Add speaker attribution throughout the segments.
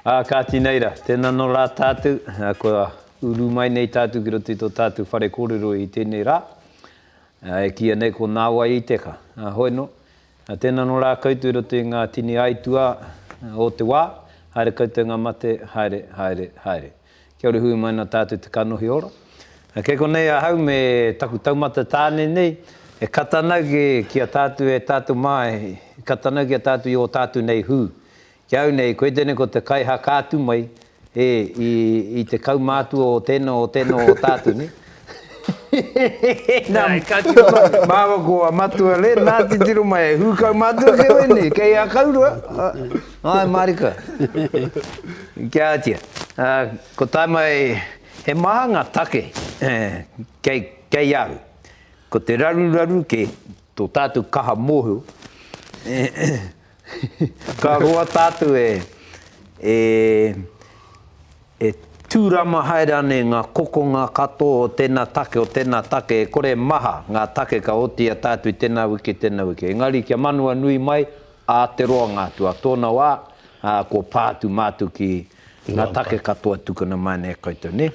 Speaker 1: Ā, kāti nei rā, tēnā anō rā tātou, kua uru mai nei tātou ki roto i tō tātou whare kōrero i tēnei rā, e kīia nei ko Nāwai i te Ka. Ā, hoi anō, tēnā anō rā koutou i roto i ngā tini aituā o te wā, haere koutou ngā mate, haere, haere, haere. Kia ora hui mai na tātou te kanohi ora. Kei konei ahau me taku taumata tāne nei, e kata nau ki ki a tātou e tātou mā, e kata nau ki a tātou i o tātou nei hū. Ki au nei, koe tēnei ko te kai haka atu mai, e, i, i te kaumātua o tēnā, o tēnā o tātou nei. Nāi, ka tino mahi. Māua ko a Matua Len, nā titiro mai e hūkau mātua kei wēnei, kei Akaurua, āe mārika, ki a Atia. Ā, kua tae mai, he maha ngā take kei, kei au. Ko te raruraru kē tō tātou kaha mōhio, Ka roa tātou e, e, e tūrama haere anei ngā kokonga katoa o tēnā take, o tēnā take, e kore e maha ngā take ka otiia tātou i tēnā wiki, tēnā wiki. Engari kia manua nui mai ā te roanga atu, ā tōna wā, ā, kua pā atu mātou ki ngā take katoa tukuna mai nei e koutou, nē?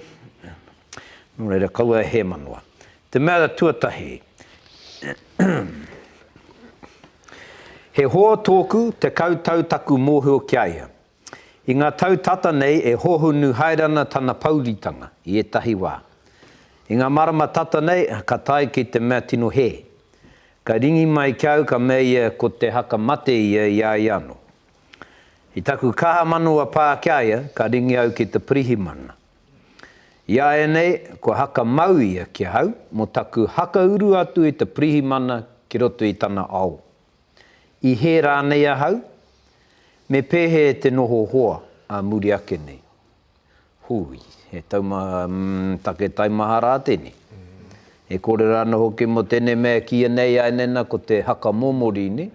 Speaker 1: Nō reira, kaua e hēmanoa. Te mea tuatahi, He hoa tōku, tekau tau taku mōhio ki a ia. I ngā tau tata nei e hohonu haere ana tana pouritanga i ētahi wā. I ngā marama tata nei, ka tae ki te mea tino hē. Ka ringi mai ki a au ka mea ia ko te haka mate ia i a ia anō. I taku kaha manawa pā ki a ia, ka ringi au ki te pirihimana. I a ēnei, kua haka mau ia ki ahau mō taku hakauru atu i te pirihimana ki roto i tana ao. I hē rānei ahau? Me pēhē te noho hoa ā muri ake nei? Hūi, he taumata, umm, take taimaha rā tēnei. E kore ra ano hoki mo tenei mea e kiia nei ai nena ko te haka momorini,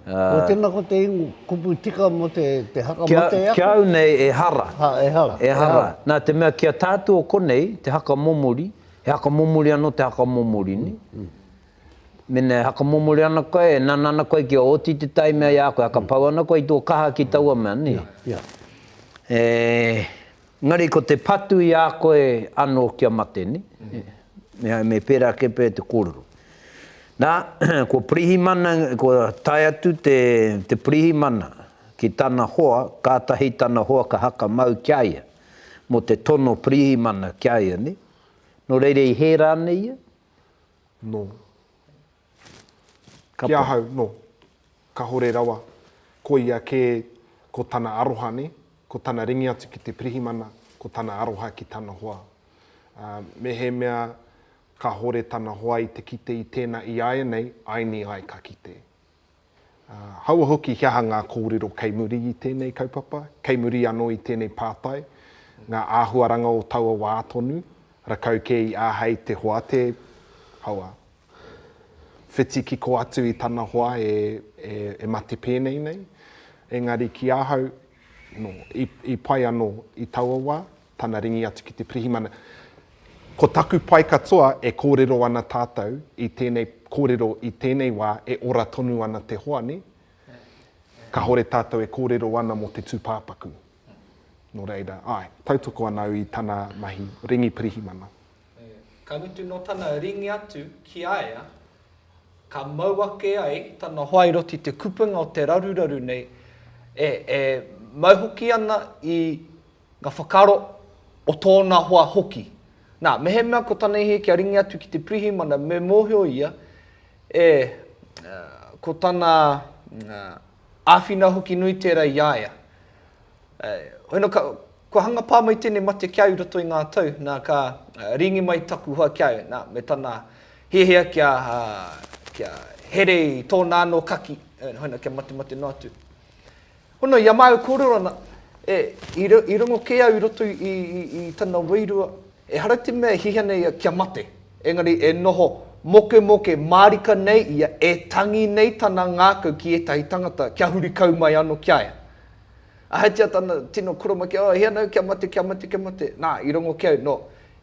Speaker 1: a. Ko tena ko te ingo kupu tika mo te haka mate aku. Ki au nei e hara. Ha, e hara. E hara. Na te mea ki a tatu o konei te haka momori, he haka momori ano te haka momorini. Mena e haka momori ana koe, e nana ana koe kia oti te tai mea i a koe, haka pau ana koe i to kaha ki taua mea, ni? E. Engari ko te patu i a koe ano kia mate, ne? Mehai me pera ake pea te korero. Na, ko Pirihimana, ko tae atu te, te Pirihimana ki tana hoa, katahi tana hoa ka haka mau kia ia, mo te tono Pirihimana kia ia, ne? No reira i he ra nei ia? No. Kapa. Ki ahau, no. Kahore rawa. Ko ia ke, ko tana aroha ne, ko tana ringi atu ki te pirihimana, ko tana aroha ki tana hoa. Mehemea kahore tana hoa i te kite i tena i aenei, aini ai ka kite. Ā, hāua hoki he aha ngā kōrero kei muri i tēnei kaupapa, kei muri anō i tēnei pātai, ngā āhuaranga o taua wā tonu, rakau kē i āhei te hoa te, hāua, whiti kiko atu i tana hoa e, e, e mate pēnei nei. Engari ki ahau, nō, i, i pai anō i taua wā, tana ringi atu ki te pirihimana. Ko taku pai katoa e kōrero ana tātou i tēnei kōrero i tēnei wā e ora tonu ana te hoa, nē? Kāore tātou e kōrero ana mō te tūpāpaku. Nō reira, āe, tautoko ana au i tana mahi ringi pirihimana. Ē, ka mutu nō tana ringi atu ki a ia, ka mau ake ai tana hoa i roto i te kupenga o te raruraru nei, e, e mau hoki ana i. Nga whakaaro o tōna hoa hoki. Na, mehemea ko tana ihe kia ringi atu ki te pirihimana me mohio ia e ko tana awhina hoki nui tera i a ia. Hoina ka, kua hanga pa mai tenei mate kia au i roto i nga tau, na, ka ringi mai taku hoa kia au, na, me tana hiahia kia, kia here i tōna ano kaki, hoina kia matemate noa atu. Hono i a māu kōrero ana, i rongo kē au i roto i tana wairua, ehara te mea e hihia nei ia kia mate, engari e noho mokemoke mārika nei ia, e tangi nei tana ngākau ki ētahi tangata kia huri kau mai anō ki a ia. Ahatia tana tino koromakia, oh, e hia ana au kia mate, kia mate, kia mate. Nā, i rongo kē au, nō,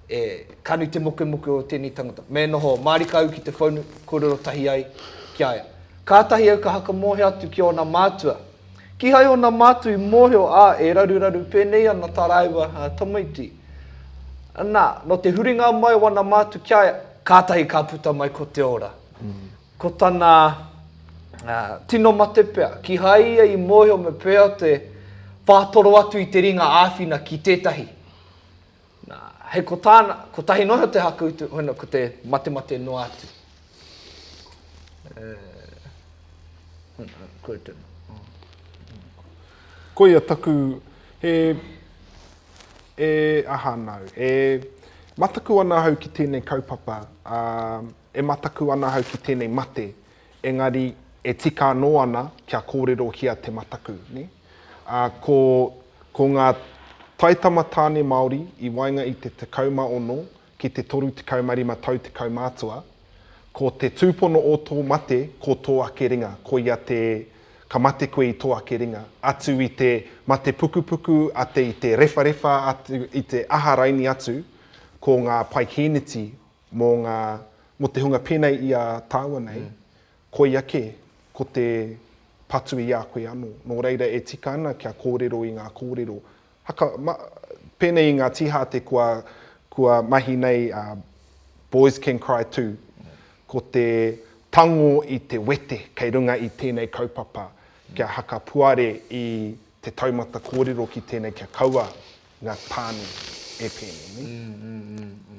Speaker 1: E kanu te mokemoke o tēnei tangata. Me noho mārika au ki te whaunu, kōrero tahi ai ki a ia. Kātahi au ka whakamōhio atu ki ōna mātua. Kīhai ōna mātua i mōhio, ā, e raruraru pēnei ana tā rāua tamaiti. Nā, nō te huringa mai o ana mātua ki a ia, kātahi ka puta mai ko te ora. Ko tana tino mate pea, kīhai ia i mōhio me pēhea te whātoro atu i te ringa āwhina ki tētahi. Nā, hei ko tāna, kotahi noa iho te hakuutu, hoina ko te matemate noa atu. Koe tēnā. Koia taku, e, e, aha nāu, e mataku ana ahau ki tēnei kaupapa, ā, e mataku ana ahau ki tēnei mate, engari e tika anō ana kia kōrero ki a Te Mataku, nē? Ā, ko, ko ngā taitama tāne Māori i waenga i te 16 ki te 35 tau te kaumātua, ko te tūpono o tō mate ko tō ake ringa, koia te ka mate koe i tō ake ringa, atu i te mate pukupuku a te i te rewharewha atu i te aha raini atu, ko ngā paikīniti mō ngā, mō te hunga pēnei i a tāua nei, Koia kē, ko te patu i a koe anō. Nō reira e tika ana kia kōrero i ngā kōrero haka, ma, pēnei i ngā tīhāte kua, kua mahi nei a Boys Can Cry Too, ko te tango i te wete kei runga i tēnei kaupapa kia haka puare i te taumata kōrero ki tēnei kia kaua ngā tāne e pēnei nei.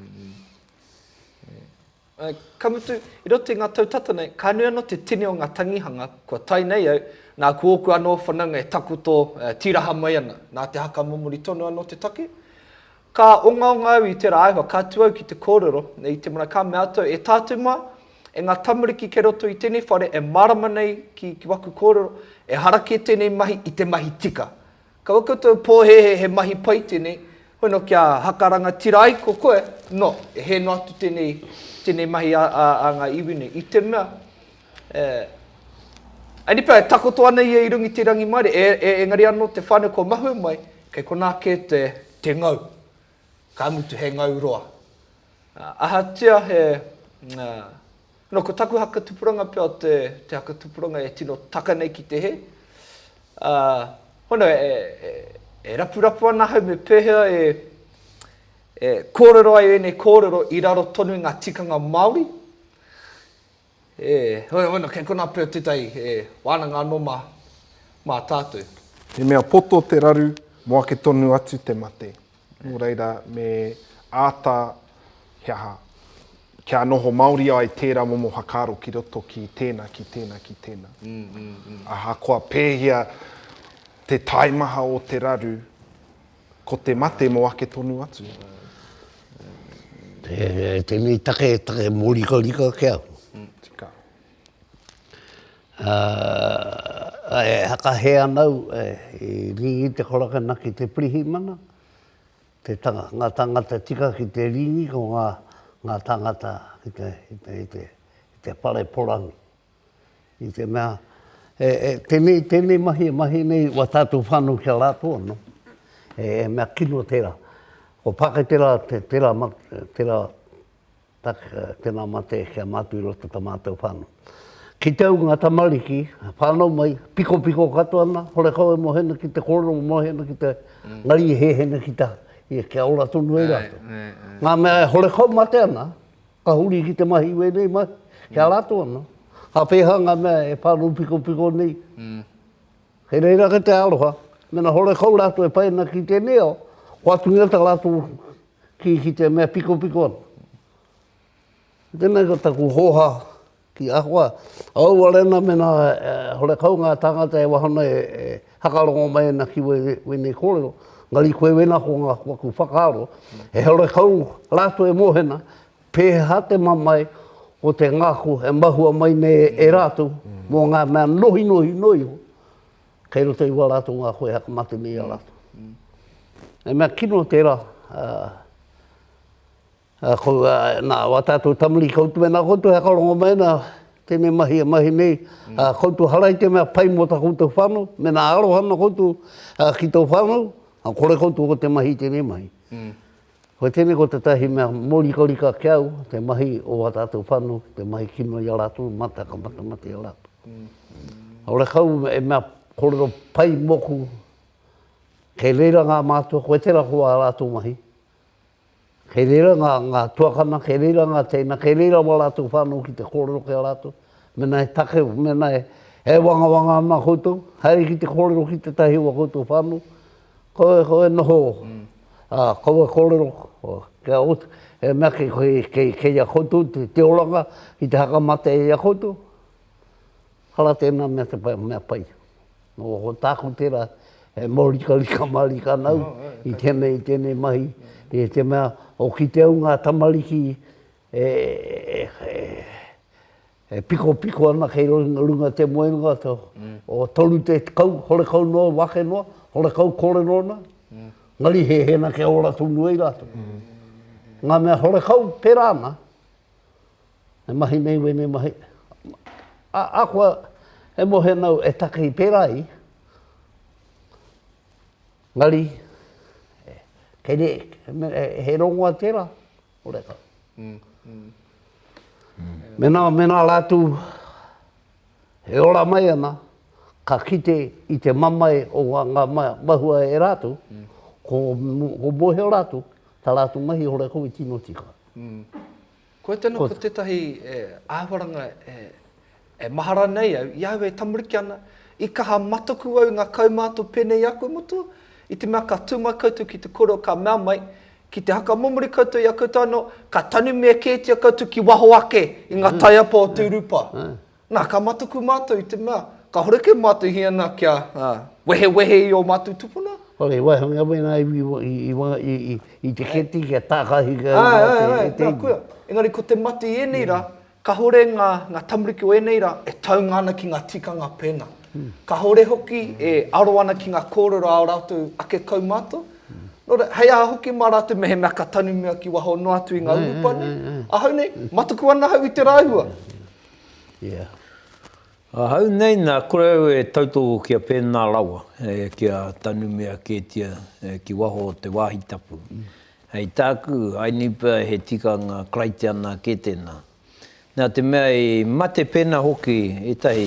Speaker 1: Ka mutu, i roto i ngā tau tata nei, ka nui anō te tini o ngā tangihanga kua tae nei au, nā, ko ōku anō whanaunga e takoto tīraha mai ana, nā te haka momori tonu anō te take. Ka ongaonga au i tērā āhua, ka tū au ki te kōrero, nei i te marae, ka mea atu au, e tātou mā, e ngā tamariki kei roto i tēnei whare e mārama nei ki, ki waku kōrero, ehara kē tēnei mahi i te mahi tika, Ka ua koutou pōhēhē he mahi pai tēnei, hoi nō kia haka rangatira ai ko koe, nō, e hē noa atu tēnei, tēnei mahi a, a, a ngā iwi nei. I te mea, e, Ai ni pea, e takoto ana ia i runga i te rangimaere, e, e, engari anō te whānau kua mahue mai, kei konā kē te, te ngau. Ka mutu he ngau roa. Ā, ahatia he, ā, Nō ko taku haka tupuranga pea te haka tupuranga e tino taka nei ki te hē. Hono, e rapurapu ana ahau me pēhea e kōrero ai ēnei kōrero i raro tonu i ngā tikanga Māori. Hono, kei konā pea tētahi wānanga anō mā tātou. He mea poto te raru mō ake tonu atu te mate. Nō reira, me āta, he aha, kia noho māori ai tērā momo whakaaro ki roto ki tēnā, ki tēnā, ki tēnā. Ahakoa pēhea te taimaha o te raru, ko te mate mō ake tonu atu. Tēnei take, take mōrikarika ke au. Tika. Ā, e whakahē ana au i Rīngi Te Korakana ki te pirihimana, te tanga, ngā tāngata tika ki te Rīngi, ko ngā, ngā tāngata ki te, ki te, ki te, ki te whare porangi. I te mea, e, e, tēnei, tēnei mahi e mahi nei wā tātou whānau ki a rātou anō, he mea kino tērā. Ko Pāketera te, tērā ma, tērā. Taka tena mate kia matu i roto ta matou whanau. Kite au nga tamariki, whanau mai, piko piko katoa na, hore kau e mohena ki te korero mo mohena ki te ngari e hehena ki ta ia kia ora tonu ai ratou. Nga mea e hore kau mate ana, ka huri ki te mahi wenei mahi, kia ratou ana, a peha nga mea e whanau piko piko nei, kei reira ke te aroha, mena hore kau ratou e pai ana ki tenei ao, kua atu ngia ta ratou, Ki, ki te mea pikopiko ana. Tēnei ko taku hōhā ki ahua, aua rena mena hore kau ngā tāngata e waho nei e hakarongo mai ana ki wēnei kōrero, engari koe wēna ko ngā waku whakaaro, e hore kau rātou e mōhena pēhea te mamae o te ngako e mahua mai nei e rātou mō ngā mea nohinohi noa iho. kei roto i wā rātou ngā koe haka mate me i a rātou. He mea kino tērā, nā, wā tātou tamuri koutou me nā koutou haka rongo mai nā, tēnei mahi e mahi nei, koutou hara i te mea pai mō tā koutou whānau, me nā aroha nā koutou ki tō whānau, kore koutou ko te mahi tēnei mahi. Ko tēnei ko tētahi mea mōrikarika ki a au, te mahi o ā tātou whānau ki te mahi kino i a rātou, mate ka matamate i a rātou. Kāore kau e mea kōrero pai mōku, kei reira ngā mātua, koe tērā ko ā rātou mahi, kei reira ngā, ngā tuakana, kei reira ngā teina, kei reira wā rātou whānau ki te kōrero ki a rātou, mēnā e take, mēnā e, e wangawanga ana koutou, haere ki te kōrero ki tētahi o ā koutou whānau, Koe, koe noho, ā, koe e kōrero, kia oti, e mea ki koe, kei, kei ia koutou te, te oranga ki te whakamate i a koutou, ara tēnā mea te pai, mea pai. Nō, ko tāku tērā, he mōrikarika mārika nau i tēnei, i tēnei mahi, i te mea, o kite au ngā tamariki e, e, e, E pikopiko ana kei runga te moenga o toru te kau, horekau noa o ake noa, horekau korero ana, ngari hehena kia ora tonu ai ratou. Nga mea horekau pera ana, e mahi nei wene mahi, a koa e mohe ana au e takei pera ai, ngari, he rongoa tera, Horeca. Mena, mena ratu e ora mai ana, ka kite i te mamae o nga, nga mahua e ratu, ko, ko mohio ratu, ta ratu mahi horeca i tino tika. Koe tena, ko tetahi e, ahuaranga e, E maha ranei au, i ahau e tamariki ana, i kaha matoku au i nga kaumātua pēnei i a koe motu? I te mea ka tū mai koutou ki te kōrero ka mea mai, ki te hakamomori koutou i a koutou anō, ka tanumia kētia koutou ki waho ake i nga taiapa o te urupa. Na, ka matoku mātou i te mea, ka horeke mātou hia na kia wehewehe i o mātou tupuna. Whare wahanga wena iwi i te keti kia tākahi kau i a te keti. Āe, āe, āe, āe, nā, koia. Engari ko te mate i ēnei rā, Kahore nga nga tamariki o enei ra e taunga ana ki nga tikanga pena. Kahore hoki e aro ana ki nga korero a o ratou ake kaumato. No ra, hei aha hoki ma ratou mehemea ka tanumia ki waho noa atu i nga urupare, ahau nei, matuku ana ahau i te rahua. Ia. Ahau nei na kore au e tautoko ki a pena rawa, kia tanumia ketia ki waho o te wahi tapu. Hei tāku, I nipa he tikanga Karaitiana kē tēnā. Nā te mea i mate pēnā hoki ētahi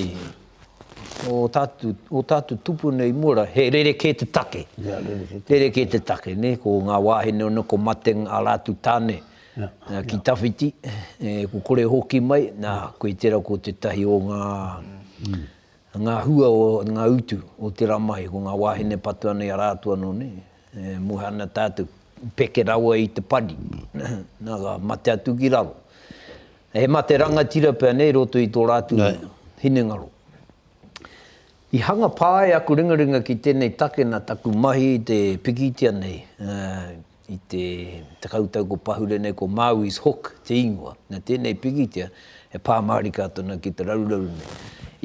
Speaker 1: o tātu, o tātu tupuna i Mora, he rerekē te take. Ia, rerekē. Rerekē te take, nē, ko ngā wāhine ōna, ko Mateng ā rātu tāne, nā, ki tawhiti, e, ko kore hoki mai, nā, koe tērā ko tētahi o ngā, ngā hua o ngā utu o te ramahi, ko ngā wāhine patu anō i a rātu anō, nē. E muha ana tātou, peke rawa i te pani, nā, ka mate atu ki raro. He mate rangatira pea nei i roto i tō rātou hinengaro. I hanga pā ai aku ringaringa ki tēnei take nā taku mahi i te pikitia nei, i te tekau tau ko pahure nei, ko Maui's Hook te ingoa. Nā tēnei pikitia, e pā mārika atu ana ki te raruraru nei.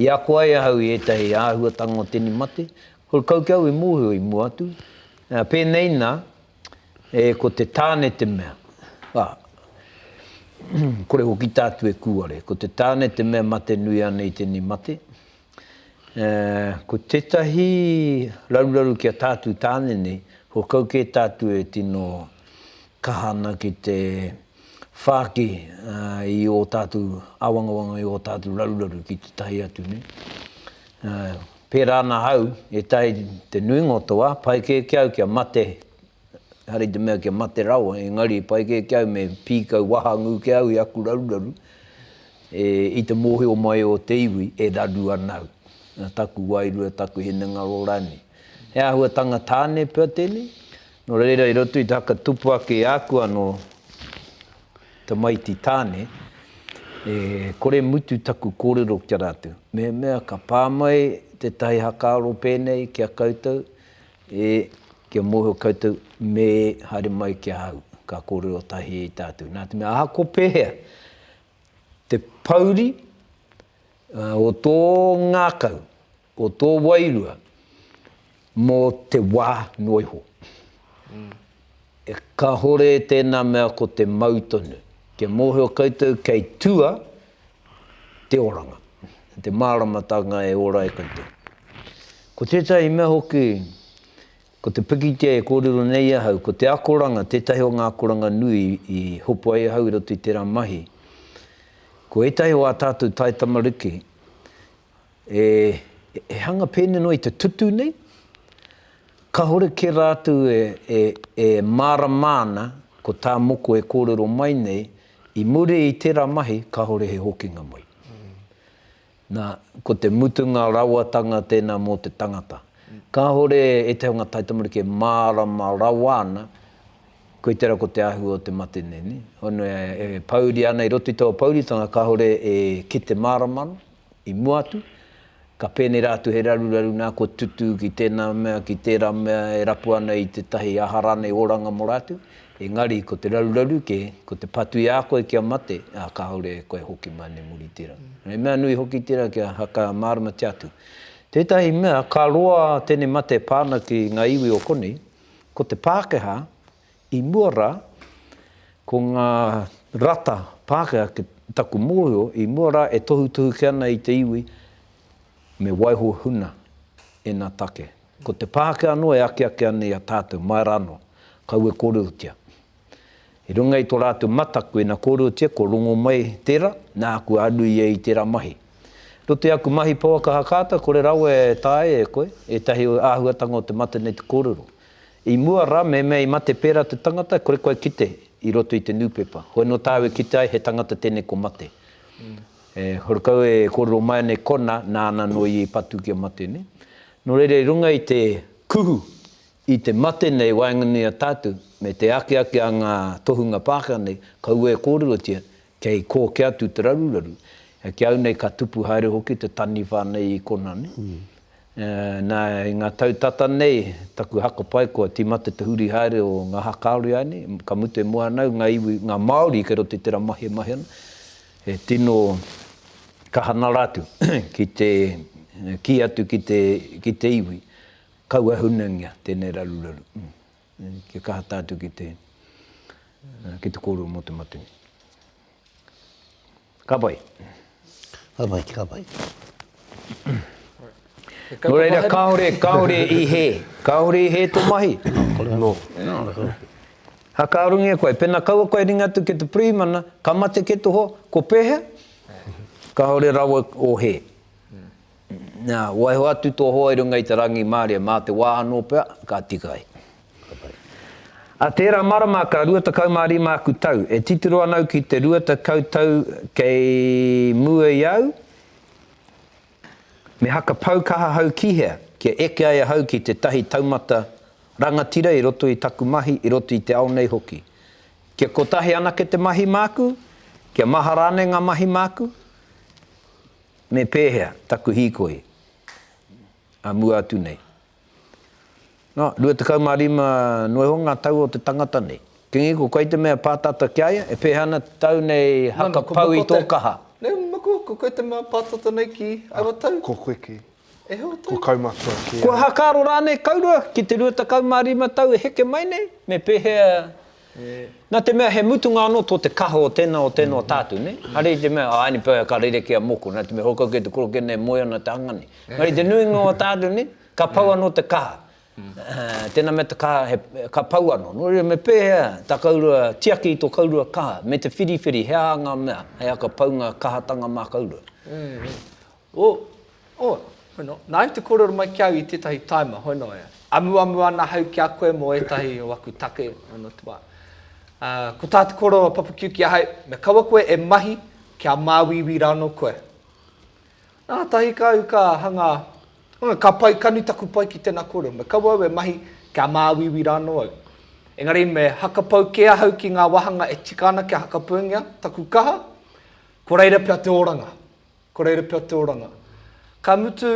Speaker 1: I ako ai ahau i ētahi āhuatanga o tēnei mate, Ko Kaukeau i mōhio i mua atu, pēnei nā, e ko te tāne te mea, ā, kore hoki tātou e kūare, ko te tāne te mea mate nui ana i tēnei mate. Ā, ko tētahi raruraru ki a tātou tāne nei, whakakau kē tātou e tino kaha ana ki te whāki i ō tātou āwangawanga, i ō tātou raruraru ki tētahi atu nei. Ā, Pērā ana au, e taea te nuinga o te wā, pai kē ki au kia mate, ehara i te mea kia mate rawa, engari pai kē ki au me pīkau wahangū kē au i aku raruraru, e, i te mōhio mai o te iwi, e raru ana au, nā taku wairua, taku hinengaro rānei. He āhuatanga tāne pea tēnei, nō reira i roto i te haka tupu ake i āku anō, Tamaiti Tāne, E kore mutu taku kōrero ki a rātou. Mehemea ka pā mai tētahi hakaaro pēnei ki a koutou, e, kia mōhio koutou, me haere mai ki ahau, ka kōrero tahi i tātou. Nā te mea, ahakoa pēhea te pouri o tō ngākau, Ko tō wairua mō te wā noa iho. Kāore tēnā mea ko te mau tonu. Kia mōhio koutou kei tua te oranga, te māramatanga e ora e koutou. Ko tētahi mea hoki, ko te pikitia e kōrero nei ahau, ko te akoranga, tētahi o ngā akoranga nui i hopu ai ahau i roto i tērā mahi, ko ētahi o ā tātou taitamariki e hanga pēnei noa i te tutū nei, kāore kē rātou e mārama ana ko tā moko e kōrero mai nei, i muri i tērā mahi kāore he hokinga mai. Nā, ko te mutunga rawatanga tēnā mō te tangata. Kāore e te anga taitamariki e mārama rawa ana, koe tērā ko te āhua o te mate nei, nē? Honua e pouri ana i roto i taua pouritanga kāore e kite mārama ana. I mua atu, ka pēnei rā atu he raruraru nā kua tutū ki tēnā mea, ki tērā mea e rapu ana i tētahi aha rānei oranga mō rātou, engari ko te raruraru kē, ko te patu i a koe kia mate, ā, kāore e koe hoki mai nei muri tērā. He mea nui hoki tērā kia whakamāramatia atu. Tētahi mea, ka roa tēnei mate e pā ana ki ngā iwi o konei, ko te Pākehā, I mua rā, ko ngā rata Pākehā ki taku mōhio, i mua rā e tohutohuke ana i te iwi me waiho huna ēnā take. Ko te Pākehā anō e akiaki ana i a tātou, mai rā anō, kaua e kōrerotia. I runga i tō rātou mataku, ina kōrerotia, kua rongo mai tērā, nā, kua aru ia i tērā mahi. I roto i aku mahi pouaka hakaata, kore rawa e taea e koe ētahi āhuatanga o te mateneti kōrero. I mua ra me mea i mate pera te tangata kore koe kite i roto i te nupepa hoi no taau e kite ai he tangata tenei ko mate e horekau e korero mai ana e kona nana no ia i patu kia mate ne no reira i runga i te kuhu i te mate nei waenganui a tatu me te akiaki a nga tohunga Pakeha nei kaua e korerotia Kei kō kē atu te raruraru. Ki au nei ka tupu haere hoki te taniwha nei i Konami. Na, i ngā tau tata nei, taku hakapae kua tīmata te huri haere o ngā haka a Riai nei, ka mutu e moe ana au ngā iwi, ngā Māori kei roto i tērā mahi e mahi ana, e tino kaha na rā atu ki te kī atu ki te iwi, kaua hunangia tēnei raruraru. kia kaha tātou ki te, ki te kōrero mō te matenga. Ka pai. Ka pai, ka pai. Nō reira, kāore, kāore i he, kāore i he tō mahi. Nō. Ha ka rungi e koe, pena kaua koe ringa atu ki te Primana, ka mate ke toho, ko pēhea? Kāore rawa o he. Na, waiho atu to hoa i runga i te rangimarie, ma te wa ano pea, ka tika ai. A tera marama ka rua tekau ma rima aku tau, e titiro ana au ki te rua tekau tau kei mua i au, me hakapau kaha hau ki hea, kia eke ai ahau ki tetahi taumata rangatira i roto i taku mahi, i roto i te ao nei hoki. Kia kotahi anake te mahi maku, kia maha rane nga mahi maku, Me pēhea taku hīkoi a mua atu nei? Nā, 25 noa iho ngā tau o te tangata nei. Kingi, ko koe te mea pātata ki a ia? E pēhea ana te tau nei haka pau i tō kaha? Nē, maku, ko koe te mea pātata nei ki aua tau? Ko koe kē. E hoa tau? Ko kaumatua kē. Kua hakaaro rānei kaurua ki te 25 tau e heke mai nei? Me pēhea Nā te mea he mutunga anō tō te kaha o tēnā, o tēnā, o tā atu, nē? Hare i te mea, ā, ēnei pēwhea ka rere ki a moko, nā te mea, hokoki e te korokia nei e moe ana te hanga nei. Engari i te nuinga o tā atu, nē? Ka pau anō te kaha. Tēnā mea te kaha he, ka pau anō. Nō reira, me pēhea tā kaurua tiaki i tō kaurua kaha? Me te whiriwhiri, he aha ngā mea hei aka pau ngā kahatanga mā kaurua? Oh, oh, hoi no, nāu te kōrero mai ki au i tētahi taima, hoi no, e amuamu ana ahau ki a koe mō ētahi o aku take, hoi no te wā. Ā, ko tā te kōrero a Papa Kiu ki ahau, me kaua koe e mahi kia māuiui rānō koe. Nātahi ka au ka hanga, oh, ka pai, ka nui taku pai ki tēnā kōrero, me kaua au e mahi kia māuiui rānō au. Engari me hakapau kē ahau ki ngā wāhanga e tika ana kia hakapaungia taku kaha, ko reira pea te oranga. Ko reira pea te oranga. Ka mutu,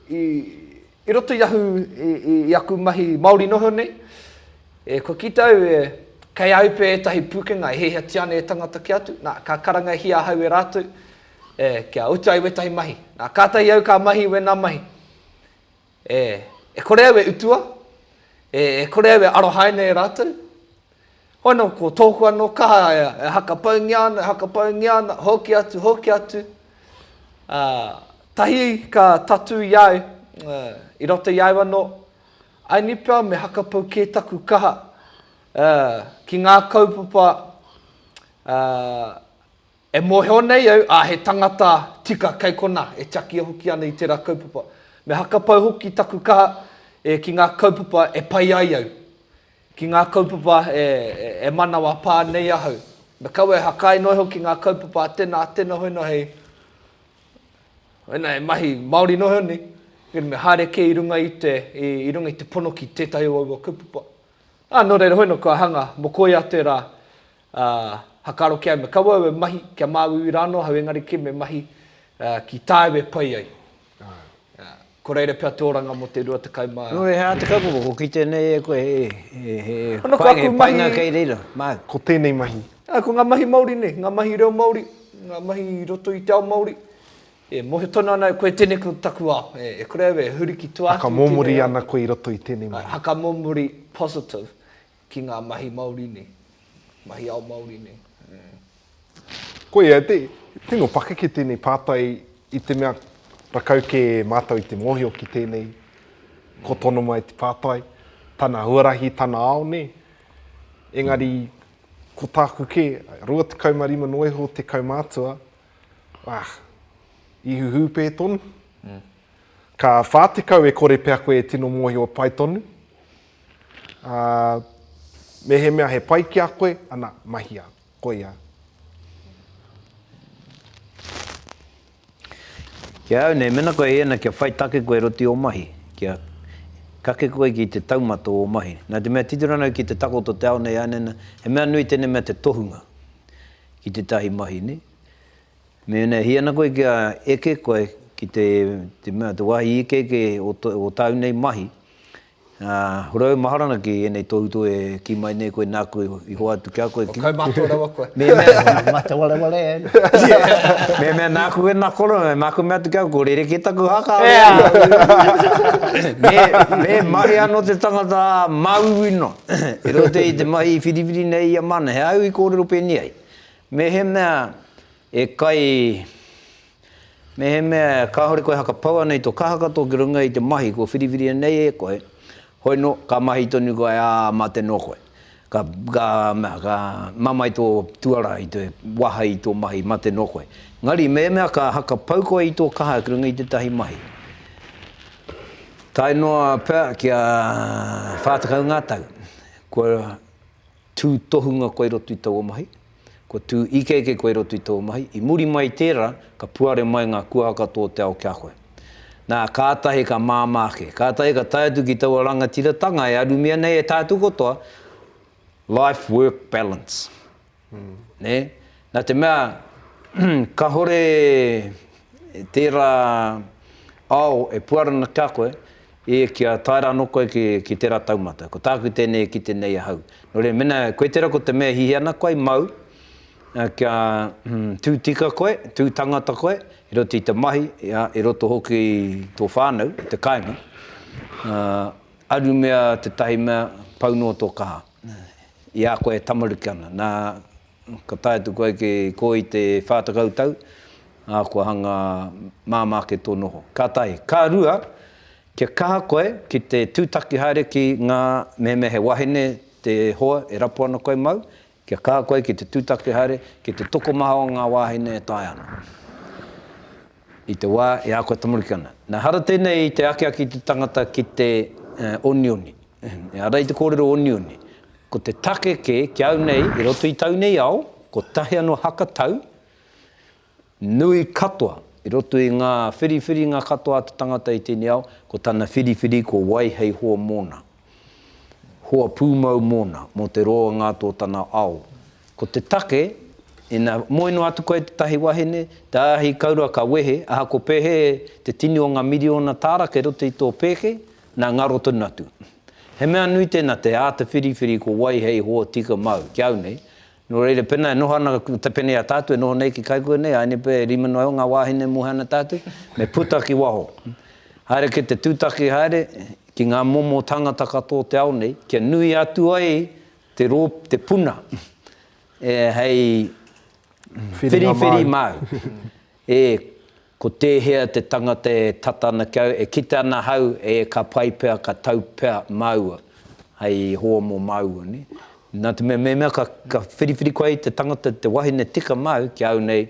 Speaker 1: i, i roto i ahu, i, i, i aku mahi Māori noho nei, e, kua kita au e, kei a au pea ētahi pūkenga e hiahiatia ana e tangata ki atu, nā, ka karangahia ahau e rātou, e, kia utu ai wētahi mahi. Nā, kātahi au ka mahi wēnā mahi. E, e kore au e utua, e, e kore au e arohaina e rātou, Hono, ko tōku anō kaha e hakapaungia ana, e hakapaungia ana, hoki atu, hoki atu, ā, tahi ka tatū i a au, ā, i roto i a au anō, I need pea me hakapau kē taku kaha, ā, ki ngā kaupapa, ā, e mōhio nei au, ā, he tangata tika kei konā, e tiakia hoki ana i tērā kaupapa. Me hakapau hoki taku kaha, e, ki ngā kaupapa e pai ai au, Ki ngā kaupapa e manawa pā nei ahau. Me kaua e hakai noa iho ki ngā kaupapa a tena, a tena hoina hei, hoina hei mahi Māori noa iho nei, engari me haere kē i runga i te, i runga i te pono ki tētahi o aua kaupapa. Ā, nō reira hoina kua hanga, mō koia te rā, ā, hakaro ki au, me kaua au e mahi, kia māuiui rānō ahau engari kē me mahi ki tāu e pai ai. Ko reira pea te oranga mo te rua tekau ma. Nō reira he āta kaupapa, ko kite nei e koe he painga kei reira, māu. Ko tēnei mahi. Ko ngā mahi Māori nei, ngā mahi reo Māori, ngā mahi i roto i te ao Māori, e mōhio tonu ana koe tēnei ko taku ao, e kore au e huri ki tua atu i tēnei ao. Haka mōmori ana koe i roto i tēnei mahi. Haka mōmori positive, Ki ngā mahi Māori nei, mahi ao Māori nei. Koia, tino pakeke tēnei pātai i te mea rakau kē mātou i te mōhio ki tēnei, ko tonu mai te pātai, tana huarahi, tana ao nē. Engari, ko tāku kē, 25 noa iho te kaumātua, ah, i huhū pē tonu. Ka 40 e kore pea koe e tino mōhio pai tonu, Ā, mehemea he pai ki a koe, ana, mahia. Koia. Ki a au nei, mena koe hēna kia whai take koe roti ō mahi, kia kake koe ki te taumata o ō mahi. Nā te mea titiro ana au ki te takoto o te ao nei ānena, he mea nui tēnei mea te tohunga ki tētahi mahi, nē. Mēnā e hia ana koe kia eke koe ki te, te mea, te wāhi ikeike o, o tāu nei mahi, Ā, hore au Maharana ki ēnei tohutohu e kī mai nei koe nāku i hoa atu ki a koe ki. Kaumātua rawa koe. Mehemea. Mate wareware ai. Mehemea nāku wēnā koro, māku mea atu ki au, ko rerekē taku haka ā rerekē. Me mahi anō te tangata ā māuiui noa. I roto i te mahi i whiriwhiri nei ia māna, he āu i kōrero pēnei ai. Mehemea. E kai, mehemea kāore koe hakapau ana i tō kaha katoa ki runga i te mahi kua whiriwhiria nei e koe, hoi nō, ka mahi tonu koe, ā, mate noa koe. Ka, ka, ka mamae tō tuara i te waha i tō mahi, mate noa koe. Engari, mehemea ka hakapau koe i tō kaha ki runga i tētahi mahi, tae noa pea kia whā tekau ngā tau, kua Tū tohunga koe roto i taua mahi, kua tū ikeike koe roto i taua mahi, i muri mai i tērā, ka puare mai ngā kuaha katoa o te ao ki a koe. Nā, kātahi ka māmā ake, kātahi ka tae atu ki taua rangatiratanga e arumia nei e tātou katoa, life work balance. Nē? Nā te mea, kāore tērā ao e puarana ki a koe, E, kia tae ra no koe ki, ki tera taumata. Ko taku tenei e kite nei ahau. No reira, mena koe tera ko te mea e hihi ana koe, mau, a, kia tu tika koe, tu tangata koe, i roto i te mahi, a, i roto hoki i to whanau, i te kainga, a, aru mea tetahi mea pau no to kaha, i a koe e tamaruki ana. Na, Ka tae atu koe ki kō i te whā tekau tau, ā, kua hanga māmā ake tō noho. Ka tahi. Ka rua, kia kaha koe ki te tūtaki haere ki ngā mehemea he wahine te hoa e rapu ana koe māu, kia kaha koe ki te tūtaki haere ki te tokomaha o ngā wāhine e taea ana. I te wā e ako tamariki ana. Na hara tēnei i te akiaki i te tangata ki te onioni. Ara i te kōrero onioni. Ko te take kē, ki au nei, i roto i tau nei ao, kotahi anō haka tau, nui katoa, i roto i ngā whiriwhiringa katoa a te tangata i tēnei ao, ko tana whiriwhiri ko wai hei hoa mōna. hoa pūmau mōna, mō te roa ngā tō tana ao. Ko te take, ina moe noa atu koe i tētahi wahine, te āhi kaurua ka wehe, aha ko pēhē te tini o ngā miriona tāra kei roto i tō pēke, nā ngaro tonu atu. He mea nui tēnā te āta whiriwhiri ko wai hei hoa tika māu, ki au nei, Nō reira, pēnā e noho ana te pene i a tātou e noho nei ki Kaikua nei, āinei pea e rima noa iho ngā wāhine e moe ana tātou, me puta ki waho. Haere ki te tūtaki haere, ki ngā momo tāngata katoa o te ao nei, kia nui atu ai te rō, te puna, e, hei whiriwhiri māu. E, ko tēhea te tangata e tata ana ki au, e kite ana ahau, e, ka pai pea, ka tau pea māua, hei hoa mō māua, nē? Nā te mea, mēmea ka, ka whiriwhiri koe i te tangata, te wahine tika māu ki a au nei,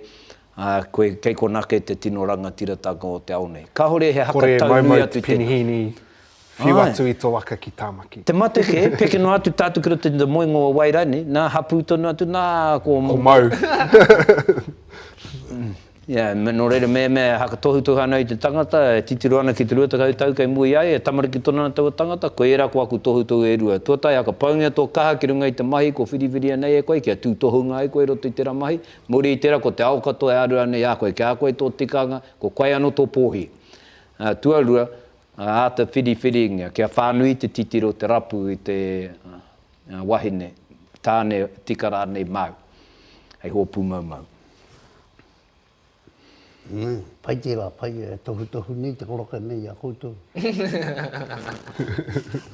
Speaker 1: ā, koe, kei konā kē te tino rangatiratanga o te ao nei. Kāore he haka tau nui atu tēnā. Kore e maumau te penihīni whiu atu i tō waka ki Tāmaki. Te mate kē, peke noa atu tātou ki roto i te moenga o Wairai nei, nā, hapū tonu atu, nā, ko. Ko Mau. Ia, me, nō reira, me, me hakatohutohu ana i te tangata, e titiro ana ki te rua tekau tau kei mua i a ia, e tamariki tonu ana taua tangata, koe ērā ko aku tohutohu e rua. Tuatahi, hakapaungia tō kaha ki runga i te mahi ko whiriwhiria nei e koe, kia tūtohunga ai koe i roto i tērā mahi, muri i tērā ko te ao katoa e āruā nei a koe, kia koe tō tikanga, ko koe anō tō pōhī. Ā, tuarua, Ngā āta whiriwhiringa, kia whānui te titiro, te rapu i te wahine, tāne, tika rānei māu, hei hōpū maumau. Pai tērā, pai e tohutohu nei te koroke nei i a koutou.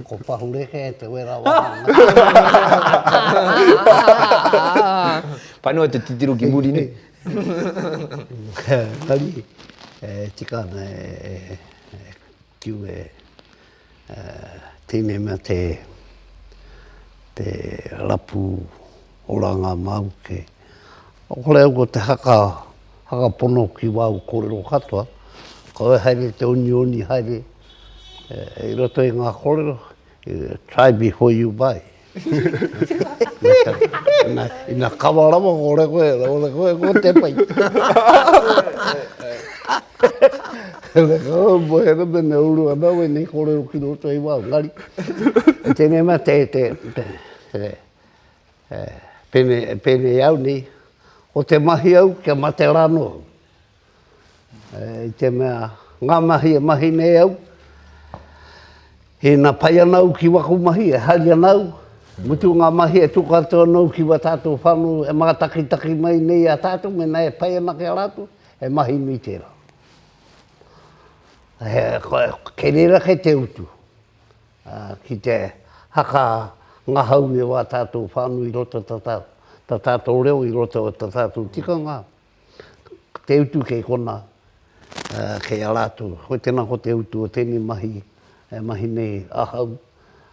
Speaker 1: Ko Pahureke te wera wāhanga. Pai noa te titiro ki muri nei. Engari, e tika ana e. Kiu e tēnei mea te rapu oranga māu kē. Kore au ko te haka, haka pono ki wāu kōrero katoa, kaua haere te onioni haere i roto i ngā kōrero, try before you buy. Ina kawa rawa ko re koe, ko re koe ko te pai. Re kau mo he re mene uru ana we ni ko re uki roto i wa ngari. Tene ma te te te pene pene au ni o te mahi au kia mate rano. I te mea, ngā mahi e mahi nei au, ina pai ana au ki waku mahi, e hari ana au, mutu ngā mahi e tuku atu ana au ki wā tātou whānau e mātakitaki mai nei i a tātou, mēnā e pai ana ki a rātou, he mahi nui tērā. He, kei reira kei te utu, ki te haka ngahau i wā tātou whānau i roto i tā tātou reo, i roto i tā tātou tikanga, te utu kei kona, kei a rātou. Hoi tēnā ko te utu o tēnei mahi, e mahi nei ahau,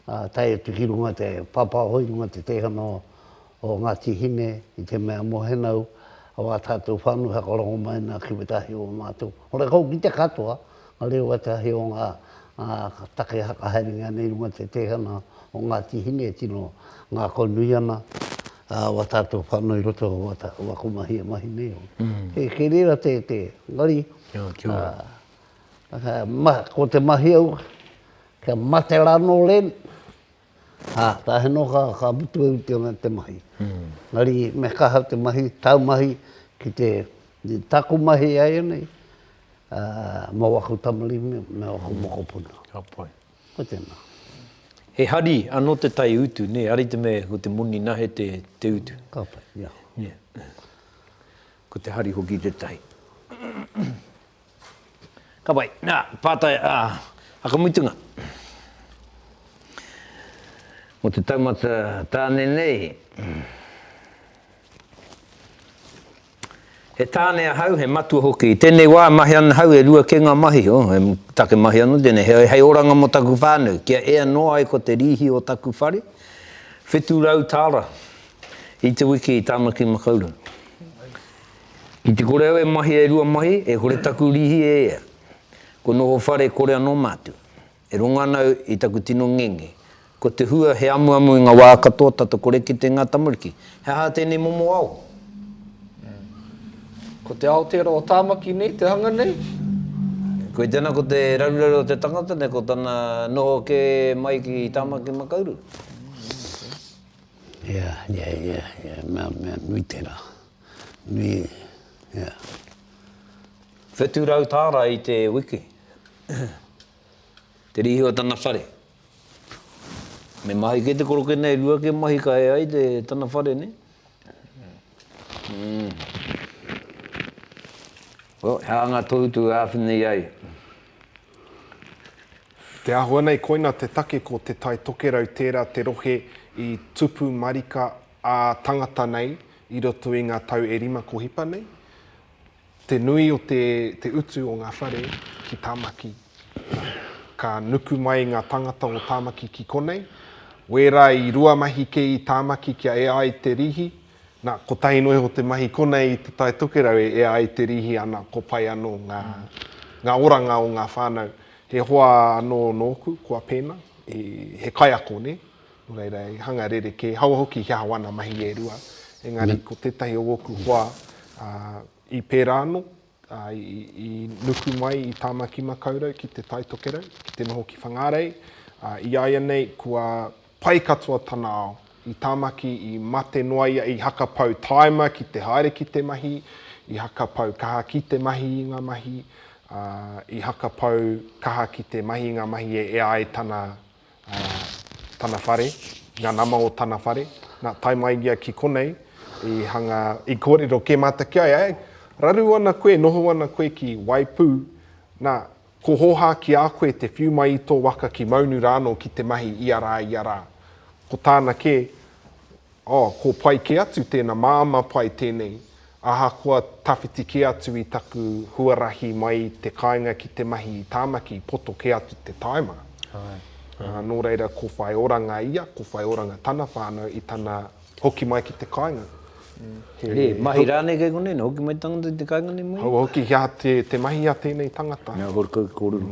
Speaker 1: tae atu ki runga te pāpāho, i runga te teihana o Ngāti Hine, i te mea mohenau, o ā tātou whānui, hakarongomai nā kiwetahi o mātou. Horekau ki te katoa. Ka reo ētahi o ngā take whakahaerengia nei runga te teihana o Ngāti Hine e tino ngākau nui ana wā tātou whānau i roto o wā ko mahi e mahi nei. Kei reira te engari ko te mahi au kia mate rānō len Ā, ka hino ka, ka mutu e Ūtiona te mahi. Engari me kaha te mahi, taumahi ki te, i taku mahi e ai nei, ā, mō aku tamarimi me aku mokopuna. Ka pai. Ko tēnā. He hari anō te tai utu, nē, ari te mea ko te moni nahe te, te utu. Ka pai, ia. Ia. Ko te hari hoki te tai. Ka pai. Nā, pātai a Whakamutunga. Mō te taumata tāne nei, he tāne ahau, he matua hoki. I tēnei wā e mahi ana ahau, e rua kē ngā mahi. Oh, he take mahi anō tēnei. He, hei oranga mō taku whānau, kia ea noa ai ko te rīhi o taku whare, whitu rau tāra i te wiki i Tāmaki Makaurau. Ki te kore au e mahi e rua mahi, e kore taku rīhi e ea. Ko noho whare kore anō mātu. E rongo ana au i taku tino ngenge. Ko te hua he amuamu i ngā wā katoa tata kore kite ngā tamariki. He aha tēnei momo ao? Ko te ao tērā o Tāmaki nei te hanga nei? Koe tēnā ko te raruraru o te tangata nei ko tana noho kē mai ki Tāmaki Makaurau. Ea, ea, ea, ea, mea, mea nui tērā. Me, yeah. Whetu rau tāra i te wiki. Te rīhi o tana whare. Me mahi kei te koroke nei, rua ke mahi ka e ai te tana whare nei. Mm. Well, he anga tohu tu āwhina i ai. Te āhua nei koina te take ko Te Tai Tokerau tērā te rohe i tupu marika a tangata nei i roto i nga tau e rima ko hipa nei, te nui o te te utu o nga whare ki Tamaki. Ka nuku mai nga tangata o Tamaki ki konei, wera i rua mahi kei i Tamaki kia ea ai te rihi, na kotahi noa iho te mahi konei i te Tai Tokerau e ea ai te rihi ana ko pai ano nga nga oranga o nga whanau, he hoa ano noku kua pena, he kaiako ne. Nō reira, i hanga rerekē, i hawa hoki i hea wāna mahi e rua, engari ko tētahi o ōku hoa i pērā anō, i nuku mai i Tāmaki Makaurau ki Te Tai Tokerau, ki te noho ki Whangārei, i a ia nei kua pai katoa tana ao i Tāmaki, i mate noa ia, i hakapau tāima ki te haere ki te mahi, i hakapau kaha ki te mahi i ngā mahi, i hakapau kaha ki te mahi i ngā mahi e ea ai tana tana whare, nga nama o tana whare, na, tae mai ia ki konei, i hanga, i korero ke mata ki a ia, eh, raru ana koe, noho ana koe ki Waipū, na, ko Hoha ki a koe te whiu mai i to waka ki Maunu rano ki te mahi ia ra, ia ra. Ko tana ke, Oh, ko pai ke atu tena maama pai tenei, ahakoa tawhiti ke atu i taku huarahi mai i te kainga ki te mahi i Tamaki poto ke atu te taima. Ae. No reira ko whai oranga ia, ko whai oranga tana whanau i tana hoki mai ki te kainga. He mahi ranei kei konei, na hoki mai te tangata ki te kainga nei mai? Hau hoki, he aha te mahi a tenei tangata? Mea hoki kei korero.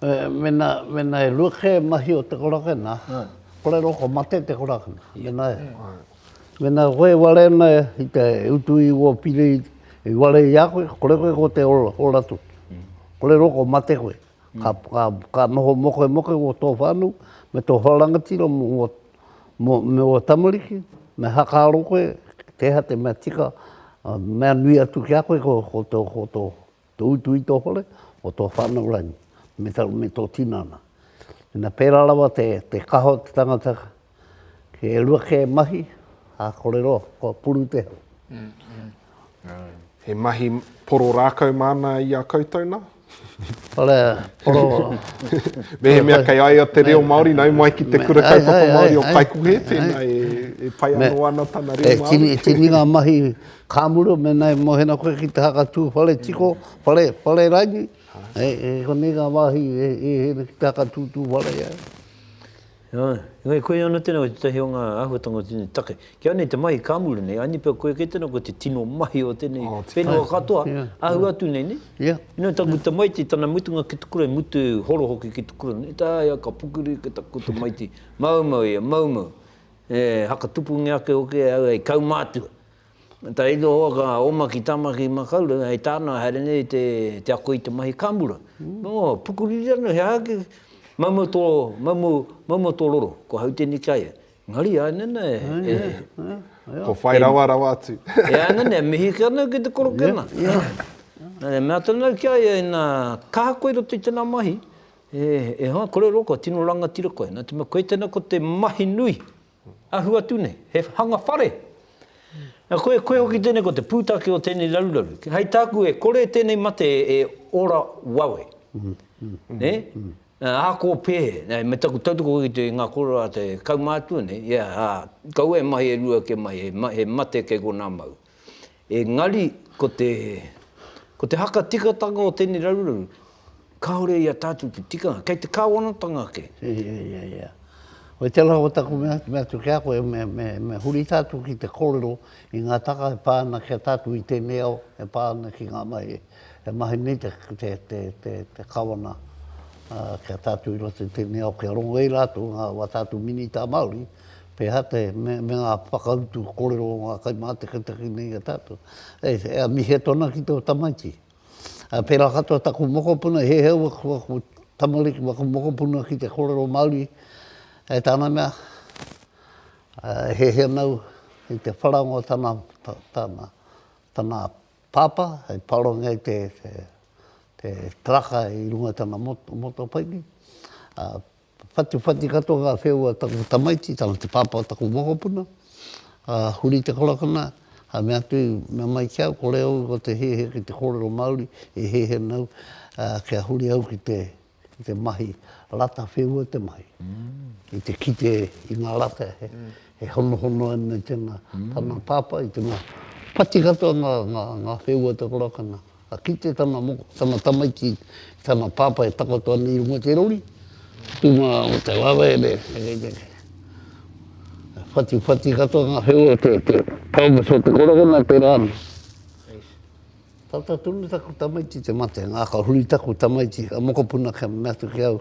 Speaker 1: Mena e rua ke mahi o te korakena, korero ko mate te korakena, mena e. Mena koe e ware ana i te utu i ua pire i ware i a koe, kore koe ko te ora tu. Korero ko mate koe, ka noho moke moke mo tō whānau, me tō wharangatira mo ua tamariki, me hakaaro koe, kei hea te mea tika, mea nui atu ki a koe ko tō Te utu i tō hore, o tō whānau rānei, me tō, me tō tinana. Ina pērā rawa te, te kaha o te tangata, he rua kē mahi, ā, kore roa, kua puru te hau. He mahi poro rākau māna i a koutou nā? Kore, poro... Mehemea kei a ia te reo Māori, nau mai ki te Kura Kaupapa Māori o Paekonghe, tēnā e, e pai anō ana tana reo Māori. He tini, tini ngā mahi Ka muru mena e mohena koe ki te haka tū whare tiko, whare, whare rangi, e, e konei ngā wāhi e, e hēnei ki te haka tū tū whare e ai. Āe, engari koia ana tēnā koe tētahi o ngā āhuatanga o tēnei take. Ki au nei te mahi ka muru nei, aini pea koia kei tēnā koe te tino mahi o tēnei oh, whenua katoa, yeah, ahu yeah. atu nei, ne? Yeah. You know, taku yeah. tamaiti, tana mutunga ki te kura, e mutu e horo hoki ki te kura, ne? Tā ia ka pukuri ki taku tamaiti, mau mau ia, mau mau. E, haka tupu nge ake hoki e au, e kaumātua. Taito hoa ka oma ki tama ki Makaurau hei tāna haere nei i te ako i te mahi kāmura. Nō, pukuriri ana he aha ki, maumau tō, maumau, maumau tō roro, ko hau tēnei ki a ia. Engari āe nana e, e, e. Ko whai rawa rawa atu. E āe nana e mihi ake ana ki te korokena. Nā te mea tonu au ki a ia, inā, ka aha koe i roto i tēnā mahi, e, e hoa, kore roa koe, tino rangatira koe. Nā te mea koe tēnā ko te mahi nui. Ahu atu nei, he hanga whare. Na koe, koe hoki tenei ko te putake o tenei raruraru. Hei taku e kore tenei mate e ora wawe. Ne? Ako pe, me taku tautoko ki te nga koro a te kaumatua nei, ia, a, kaua e mahi e rua ke mahi, he mate kei kona mau. Engari, ko te, ko te haka tikatanga o tēnei raruraru, kāore i a tātou te tikanga, kei te Kāwanatanga ake. Ia, ia, ia. Hoi tēnā ko taku mea, mea atu ki a koe, me, me, me huri tātou ki te kōrero i ngā taka e pā ana ki a tātou i tēnei ao, e pā ana ki ngā mahi e mahi nei te, te, te, te, te Kawana ki a tātou i roto i tēnei ao, kia rongo i rātou ngā, wā tātou Minita Māori, Te hate me ngā whakautu korero o ngā kaimātakitaki nei i a tātou. E mihi atu ana ki tō tamaiti. Pērā katoa taku mokopuna, he hea aku tamariki me aku mokopuna ki te korero Māori, e tāna mea, he hea nau i te wharaunga o tana, tana, tana pāpā, hei parongia i te, te, te taraka i runga i tana motopaiki. Whatiwhati katoa ngā wheua o taku tamaiti, tana te pāpā o taku mokopuna, a Huri Te Korakona, a mea atu mea mai ki au, kore au ko te hehe ki te kōrero Māori, e hehe ana au, a kia huri au ki te ki te mahi rata wheua te mahi, ki te kite i ngā rata e honohono ana i tēnā, tana pāpā i tēnā. Whati katoa ngā wheua o Te Korakona. Ka kite tana moko, tana tamaiti, tana pāpā e takoto ana i runga i te rori, tū mā o te lawe me whatiwhati katoa ngā wheua o te pelvis o te korokona te rā. Tata tonu taku tamaiti te mate, ngā ka huri taku tamaiti, a mokopuna kia mea atu ki au,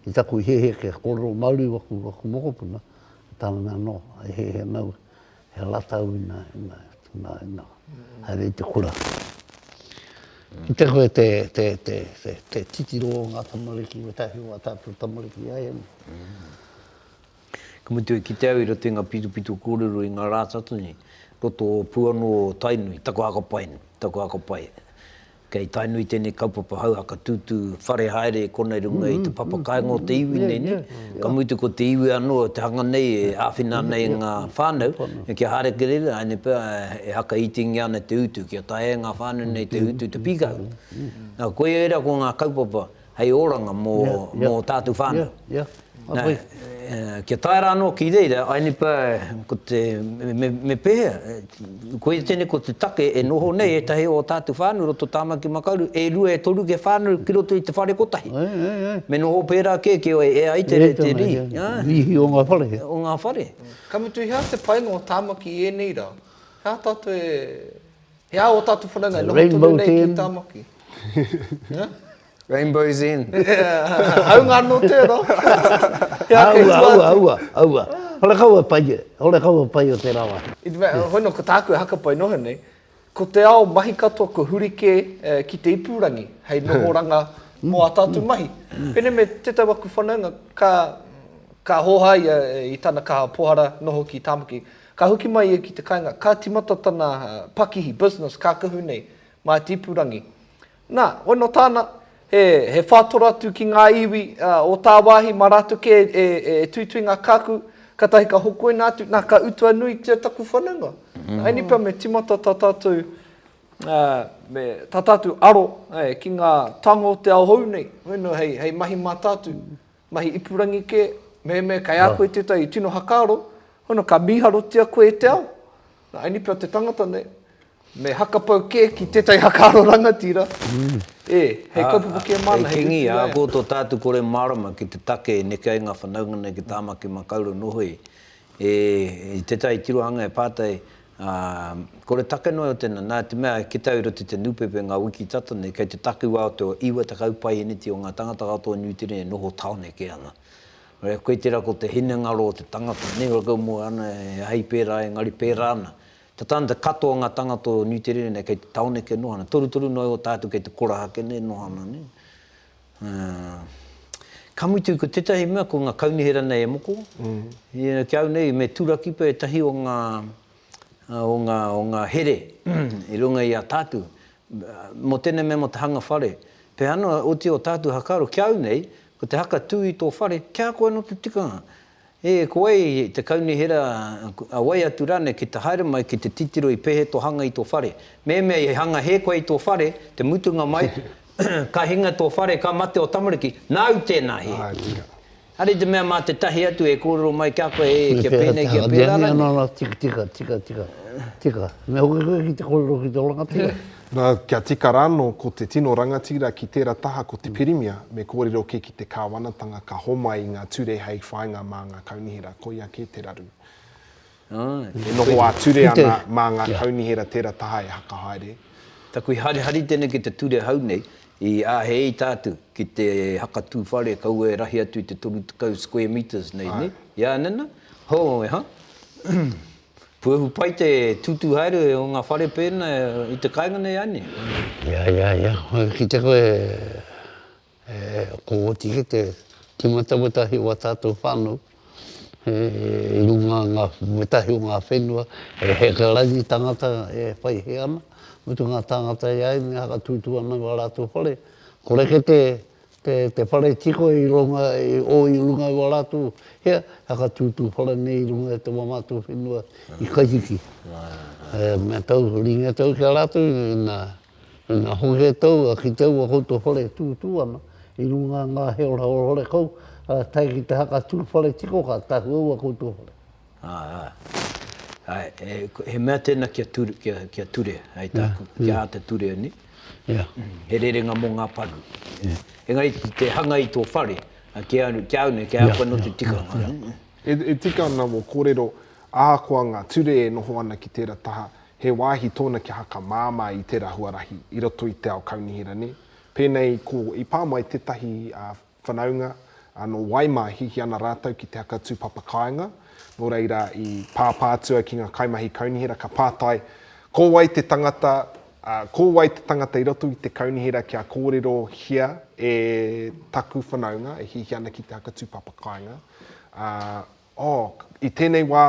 Speaker 1: i taku i hehe kia korero Māori waku mokopuna, tāna mea nō, e hehe ana au, He la tau ina, ina, ina, ina. Hai rei te kura. Ki te koe te, te, te, te, te titiro o ngā tamariki, me tahi o ngā tātou tamariki ai ane. Mm. Ka mutu e kite au i roto i ngā pitopito kōrero i ngā rā tata nei, roto o Puanō o Tainui, taku haka pai nei, taku haka pai. Kei tainui tēnei kaupapa hauhaka tūtū whare haere e kona i runga i te papa kāinga o te iwi nei, nē? Ka mutu ko te iwi anō te hanga nei e āwhina ana e ngā whānau kia haere kere rā, ēnei pea e whakaitingia ana te utu kia taea e ngā whānau nei te utu te pīkahu. Nā, koia ērā ko ngā kaupapa. hei oranga mō tātou whānau. Kia tae rā anō ki reira, I nipa, ko te, me pēhea, koia tēnei ko te take e noho nei ētahi o tātou whānau i roto o Tāmaki Makaurau, e rua, e toru kia whānau ki roto i te whare kotahi. Me noho pērā kē ki ō e ai te rī. Rīhi o ngā whare. O ngā whare. Ka mutu, he aha te painga o Tāmaki i ēnei rā? He aha tātou e. He aha ō tātou whanaunga e noho tonu nei ki Tāmaki? Rainbow's End. Haunga anō tērā. He aha kei tua atu? Aua, aua, aua, aua. Hore kau e pai, hore kau e pai o tērā wā. I te mea, hoi nō ko tāku e hakapai noho nei, ko te ao mahi katoa kua huri kē ki te ipurangi hei nohoranga mō ā tātou mahi. Pēnei me tētahi o aku whanaunga, ka hōhā ia i tana kaha pohara noho ki Tāmaki, Ka hoki mai ia ki te kainga, ka timata tana pakihi, business, kākahu nei, mā te ipurangi. Na, wano tāna, he, he whātora atu ki ngā iwi o tāwāhi, mā rātou kē e, e, e tuitui ngā kākahu, katahi ka hokoina atu, na, ka utua nuitia taku whanaunga. Na, ēnei pea me timata tā tātou, ā, me, tā tātou aro, ē, ki ngā tango o te ao hou nei, you know, hei, hei mahi mātātu. Mahi ipurangi kē, mehemea kei a koe tētahi i tino hakaaro, huna ka mīharotia koe e te ao. Nā, eni pea te tangata nei, me hakapau kē ki tētahi hakaaro rangatira, ē, hei kaupapa kē māna, hei utu i a ia. Hei kingi, ākō tō tātou kore mārama ki te take e neke ai ngā whanaunga nei ki Tāmaki Makaurau noho i. E, i tetahi tirohanga e pātai, ā, ko re take noa iho tena, na te mea ki tau i roto i te nupepe nga wiki tata nei, kei te takiwa o te o iwa tekau paiheneti o nga tangata katoa o Niu Tireni e noho taone ke ana. Re, koe tera ko te hinengaro o te tangata nei, ora kau moe ana e ahei pera, engari pera ana. Ta tana katoa o nga tangata o Niu Tireni nei kei te taone ke noho ana, torutoru noa iho ta atu kei te koraha ke nei noho ana nei. Ka mutu, ko tētahi mea, ko ngā kaunihera nei e moko. Ki a au nei, me turakipa ētahi o ngā, o ngā, o ngā here i runga i a tātou. Mō tēnei mea, mō te hanga whare. Pēhea noa, otirā o tātou haka aro, ki a au nei, ko te haka tū i tō whare, kia ako anō te tikanga. E koe, te kaunihera, a wai atu rānei ki te haere mai ki te titiro i pehe tō hanga i tō whare. Mehemea i hanga hē koe i tō whare, te mutunga mai, ka hinga tō whare, ka mate ō tamariki, nāu tēnā hē. Are i te mea mā te tahi atu e kōrero mai ki a koe, e, kia pēnei, kia pērā rānei. Tika, tika, tika, tika, tika. Me hoki koe ki te kōrero ki tō rangatira. Nā, kia tika rānō ko te tino rangatira ki tērā taha ko te Pirimia, me kōrero kē ki te Kāwanatanga ka homai i ngā ture hei whāinga mā ngā Kaunihera, koia kē te raru. E noho ā-ture ana mā ngā Kaunihera tērā taha e whakahaere. Taku harihari tēnei ki te ture hou nei, i āhei i tātou ki te hakatū whare kaua e rahi atu i te 30 square metres nei, nē? Ia nana, hō, he aha? Puehu pai te tutu haere o nga whare pena i te kainga nei a ne. Ia ia ia hoi kite koe e ko oti ki te timata wetahi o nga tatou whanau he i runga nga wetahi o nga whenua he heke rangi tangata e whai he ana mutu nga tangata i a ime haka tutu ana i a ratou whare kore kete te whare tiko i runga i o i runga i wa ratu hea whakatutu whare nei i runga i te wa matou whenua i Kahiki me tau ringa tau ki a ratu na na hohe tau a ki tau a koutou whare tutu ana i runga nga he ora hore kau a tae ki te haka tu whare tiko ka tahu au a koutou whare. Ā, ā. Āe, e, he mea tēnā kia ture, kia, kia ture, hei tāku, kia āta ture nei. Ia. He rerenga mō ngā paru. Ia. Engari ki te hanga i tō whare, a, ki au, ki au nei, kei a koe anō te tikanga. Ia, ia. E, e tika ana mō kōrero, ahakoa ngā ture e noho ana ki tēra taha, he wāhi tōna kia haka māmā i tēra huarahi i roto i te ao kaunihera, nē? Pēnei ko, i pā mai tētahi, ā, whanaunga, ā, nō Waimāhi ki ana rātou ki te haka tūpapa kāinga, nō reira i pāpā atu au ki ngā kaimahi kaunihera ka pātai, ko wai te tangata, ā, ko wai te tangata i roto i te kaunihera kia kōrerohia e taku whanaunga e hiahia ana ki te haka tūpapa kāinga, ā, oh, i tēnei wā,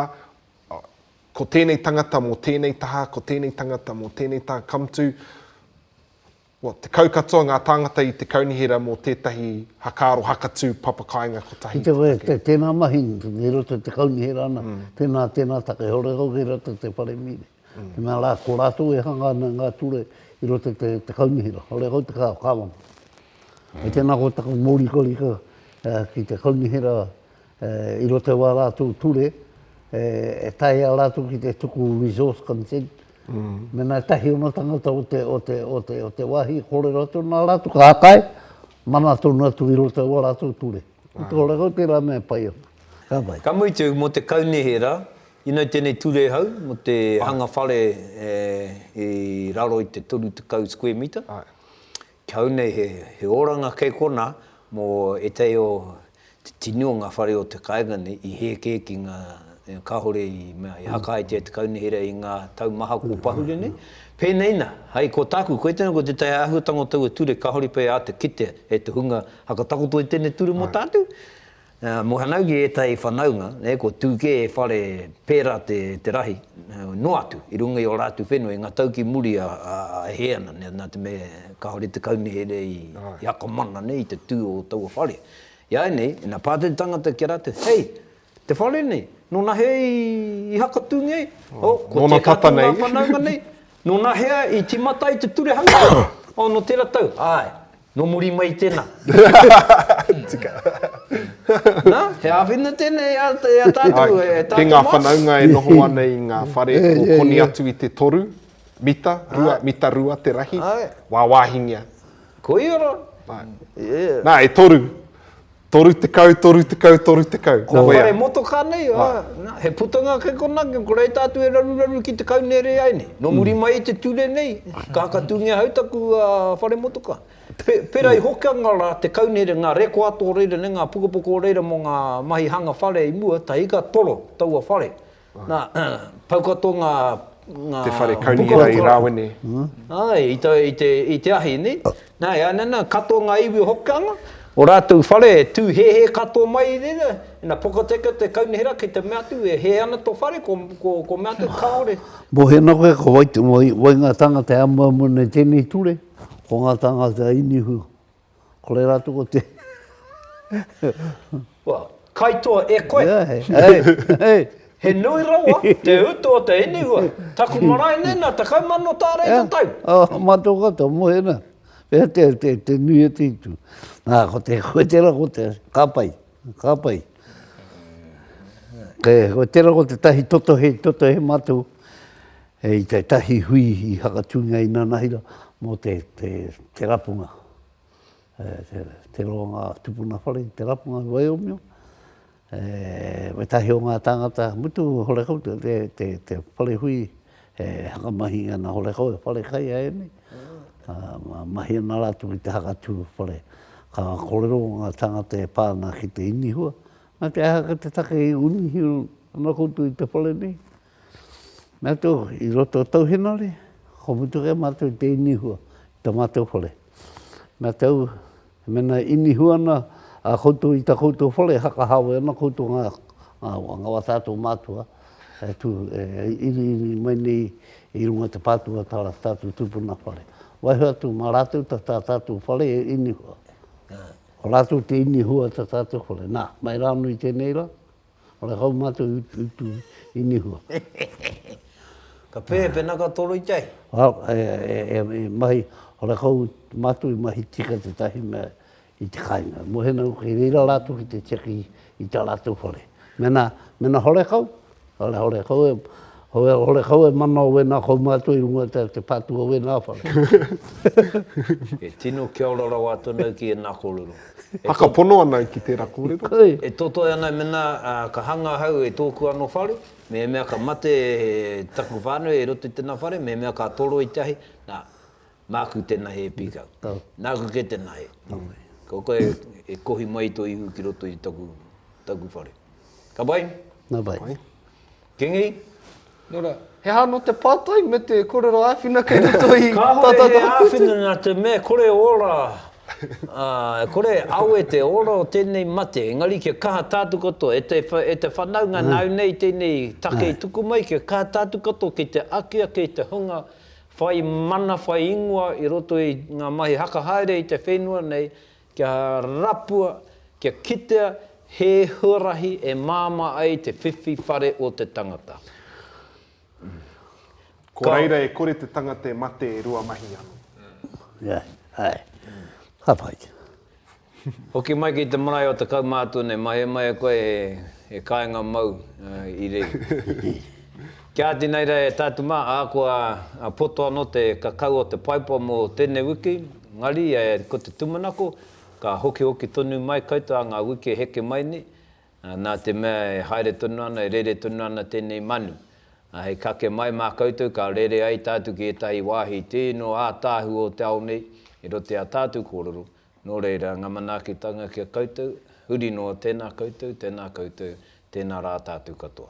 Speaker 1: oh, ko tēnei tangata mō tēnei taha, ko tēnei tangata mō tēnei taha, come to, Kua tekau katoa ngā tāngata i te kaunihera mō tētahi hakaaro hakatū papakāinga kotahi i te take. Tēnā mahi i roto i te kaunihera ana, tēnā, tēnā take, heore kau kei roto i te whare mīne. Tēnā rā, ko rātou e hanga ana ngā ture i roto i te kaunihera, heore kau te kāwama. Tēnā koe taku mōrikarika ki te kaunihera i roto i ā rātou ture, e taea rātou ki te tuku resource consent, mēnā e tahi ana tangata o te, o te, o te, o te wāhi, kōrero atu nā rātou, ka kai, mana tonu atu i roto i ā rātou ture. Ko te ora kau tērā mea pai ana. Ka pai. Ka mutu, mō te kaunihera, you know tēnei ture hau, mō te hanga whare i raro i te toru tekau square metre, Kau nei he oranga kei kona mo etahi o te tini o nga whare o te kaenga nei i heke ki nga kahore i mea i hakahaetia te kaunihera i nga tau maha ko pahure nei. Penei na, hai ko taku, koe tena ko tetahi ahuatanga o taua ture kahore pea atu kitea e te hunga hakatakoto i tenei ture mo tatu. Mohanau ki ētahi whanaunga, ko Tūkē e whare pērā te rahi, noa atu, i runga i ō rātou whenua, i ngā tau ki muri a hē ana, nā te mea, kāore te kaunihera i akomana nei i te tū o taua whare. Iāinei, ina pā te tangata ki a rātou, hei, te whare nei, nōna hē i hakatūngia ai? Nōna tata nei. Ko tēnā tātou ngā whanaunga nei, Nō nā hea i tīmata ai te ture hanga? Oh, nō tērā tau, āe. Nō muri mai i tēnā. Tika. Nā, he āwhina tēnei i a tātou, e tātou mātou. Ki ngā whanaunga e noho ana i ngā whare o koni atu i te toru mita, rua mita rua te rahi, wāwāhingia. Koia rā. Nā, e toru. Toru tekau, toru tekau, toru tekau. Ko ia. Nā whare motokā nei, ā, nā, he putanga kei konā, kia koreita atu e raruraru ki te kau nere ai nei. Nō muri mai i te ture nei, ka hakatūngia hau taku whare motokā. Pērā i Hokianga rā te kau nere, ngā rekoato o reira nei, ngā pukapoko o reira mō ngā mahi hanga whare i mua, tahi ka toro taua whare. Nā, pau katoa ngā, ngā. Te whare kaunihera i Rāwene. Āe, i te, i te, i te ahi, nē? Nā, e ana nā, katoa ngā iwi o Hokianga, o rātou whare e tū hēhē katoa mai i reira, ina pokateka te kaunihera ki te mea atu, e hē ana tō whare, ko, ko, ko mea atu, kāore. Mōhena koe, ko wai, wai ngā tāngata e amuamu ana i tēnei ture, ko ngā tāngata Inihu, Ko reira atu ko te... Well, kaitoa e koe. Yeah, hey, hey, hey. He nui rawa te utu o te inihua. Taku marae nei na tekau mano tārei yeah. te tau. Oh, mato kata, mohe na. Pea te, te, te nui e te itu. Nā, ko te koe tera, ko te kapai. Ka pai. E, ko tērā ko te tahi totohe, totohe mātou e i te tahi hui i Hakatūngia i Nanahira mō te, te, te rapunga. E, te, te roa ngā tupuna whare, te rapunga i Waiomio. E, me tahi o ngā tāngata, mutu hore koutou te, te, te whare hui E whakamahi ana hore hou e whare kai a emi, ka mahi ana ratou ki te hakatū whare. Ka korero nga tangata e pa ana ki te inihua, Na te aha ka te take i unihi ana koutou i te whare nei? Mea tou, i roto o tou henare, ka mutu kai matou i te inihua i ta matou whare. Mea tou, He mena e inihu ana a koutou i ta koutou whare e hakahawe ana koutou nga nga wa tatou matua e tu e iriiri mai nei i runga i te patua ta tatou tupuna whare. Waiho atu ma ratou ta ta tatou whare e inihua. Ko ratou te inihua ta tatou whare. Na, mai ra no i tenei ra. Ora kau matou i tu i nihua. Ka pēhea pēnā ka toro i te ahi? E mahi, ora kau matou i mahi tika tetahi mea i te kainga. Mohena noa kei reira ratou ki te tiaki i ta ratou whare. Mena hore kau, hore kau e. Hoi hore kau e mana o wena kau mātua i runga te te patu o wena whare. E tino kia ora rawa atu anau ki ena korero. Whakapono anau ki tera korero. E totoi anau mena ka hanga ahau e toku ano whare, mehemea ka mate taku whanau e roto i tena whare, mehemea ka toro i te ahi, na, maku tena he pikau. Naku ke tena he. Ko koe e kohi mai to ihu ki roto i taku whare. Ka pai? Na pai. Kingi, Nō ra, he aha anō te pātai me te kōrero āwhina kei roto i tā tātou kupu tū? Kāore he āwhina nā te mea kore ora, ā, kore awe te ora o tēnei mate, engari kia kaha tātou katoa, e te, e te whanaunga nāu nei tēnei take i tuku mai, kia kaha tātou katoa ki te aki ake i te hunga whai mana, whai ingoa i roto i ngā mahi haka haere i te whenua nei, Kia rapua, kia kitea he huarahi e māmā ai te whiwhi whare o te tangata. Ko reira e kore te tangata e mate e rua mahi ano. Ia, ae. Ka pai te. Hoki mai ki te marae o te kaumātune, mahemahe koe he kāinga mau i rei. Kia ati nei rā e tātu mā, ahakoa poto ano te kakau o te paipa mo tenei wiki, Engari, ko te tūmanako, ka hokihoki tonu mai koutou a ngā wiki e heke mai nei, nā te mea e haere tonu ana, e rere tonu ana tēnei manu. Hei kake mai mā koutou, ka rere ai tātou ki ētahi wāhi tē nō ātaahu o te ao nei, i roto i ā tātou kōrero, nō reira, ngā manaakitanga ki a koutou, huri noa, tēnā koutou, tēnā koutou, tēnā rā tātou katoa.